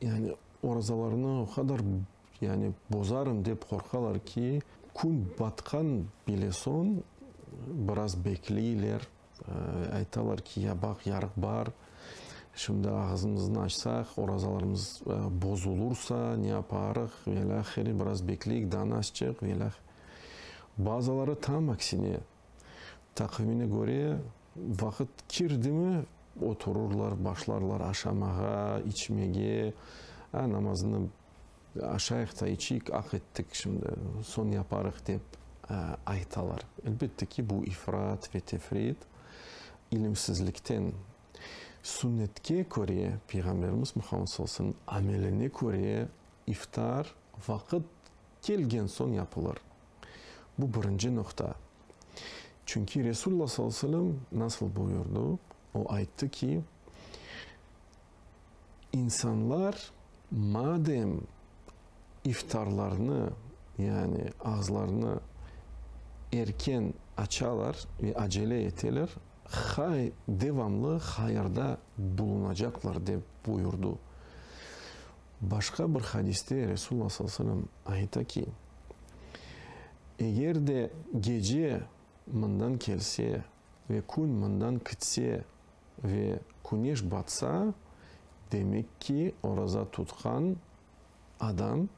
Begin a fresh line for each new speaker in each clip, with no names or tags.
Yani orazalarını o qadar, yani bozarım dep qorqalar ki, kün batqan bile soñ biraz bekleyler, aytalar ki, ya baq, yarıq bar, şimdi ağızımıznı açsaq, orazalarımız bozulursa ne yaparıq, velâhire, biraz bekleyik, danasçıq, velâhire. Bazıları tam aksine. Taqvimine köre, vaqıt kirdimi, oturırlar, başlarlar aşamağa, içmege. A, namazını aşayıq ta içiyik, aq ettik şimdi, soñ yaparıq, dep aytalar. Elbette ki, bu ifrat ve tefrit, ilimsizlikten. Sünnetke köre, Peyğamberimiz Muhammed sallallahu aleyhi ve sellemniñ ameline köre, iftar vaqıt. kelgen soñ yapılır. Bu birinci noqta. Çünki Resulla sallallahu aleyhi ve sellem nasıl buyurdı? O ayttı ki, İnsanlar madem iftarlarını, yani ağızlarını erken açalar ve acele eteler, hay devamlı hayırda bulunacaqlar, dep buyurdı. Başqa bir hadiste Resulullah sallallahu aleyhi ve sellem ayta ki, Eger de gece mından kelse ve kün mından kitse ve küneş batsa, demek ki, oraza tutqan adam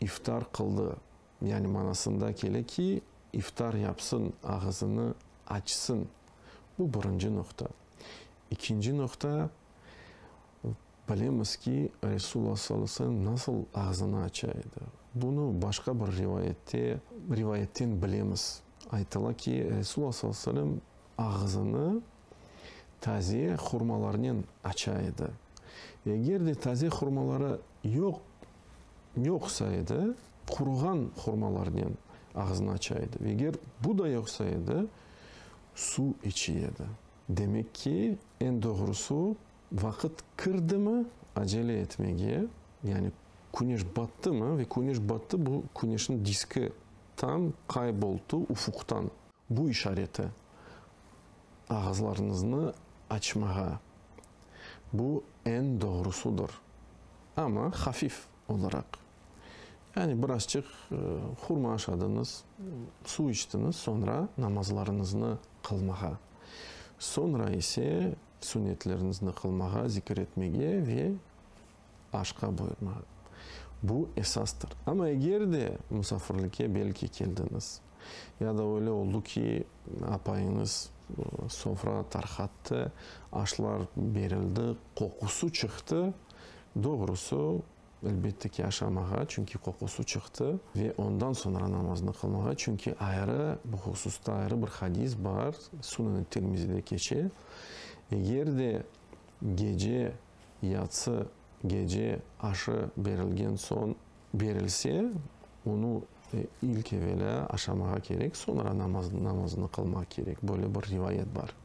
iftar qıldı, yani manasında kele ki, iftar yapsın, ağızını açsın. Bu birinci noqta. İkinci noqta, Bilemiz ki, Resulullah sallallahu aleyhi ve sellem nasıl ağzını aça edi. Bunı başqa bir rivayette, rivayetten bilemiz. Aytıla ki, Resulullah sallallahu aleyhi ve sellem ağzını taze hurmalarnen aça edi. Eger de taze hurmaları yoq, yoqsa edi, quruğan hurmalarnen ağzını aça edi. Ve eger bu da yoqsa edi, suv içe edi. Demek ki, eñ doğrusı, Vaqıt kirdimi acele etmege, yani küneş battımı ve küneş battı bu küneşniñ diski tam kayboltı ufuqtan. Bu işareti ağızlarıñıznı açmağa, bu eñ doğrusudır, amma hafif olaraq, yani birazçıq hurma aşadıñız, suv içtiñiz, soñra namazlarıñıznı qılmağa, soñra ise. Sünnetlerinizni qılmağa, zikir etmege ve aşqa buyurmağa. Bu esastır. Amma eger de musafirlikke belki keldiñiz ya da öyle oldu ki, apayıñız sofra tarqattı, aşlar berildi, qoqusı çıqtı, doğrusı, Elbette ki, aşamağa, çünki qoqusı çıqtı. Ve ondan soñra namaznı qılmağa, çünki ayrı, bu hususta ayrı bir hadis bar, Suneni Tirmizide keçe, Eger de gece, yatsı gece aşı berilgen soñ berilse, onı, İlk evelâ aşamağa kerek, soñra namazını qılmaq kerek, böyle bir rivayet bar.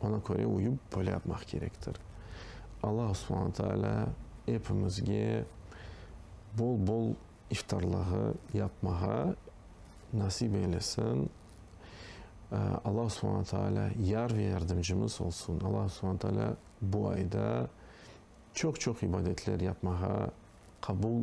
Oña köre uyıp, böyle yapmaq kerektir. Allahu subhana taalâ epimizge bol-bol iftarlığı yapmağa nasip eylesin. Allahu subhana taalâ yar ve yardımcımız olsun. Allahu subhana taalâ bu ayda çoq-çoq ibadetler yapmağa, qabul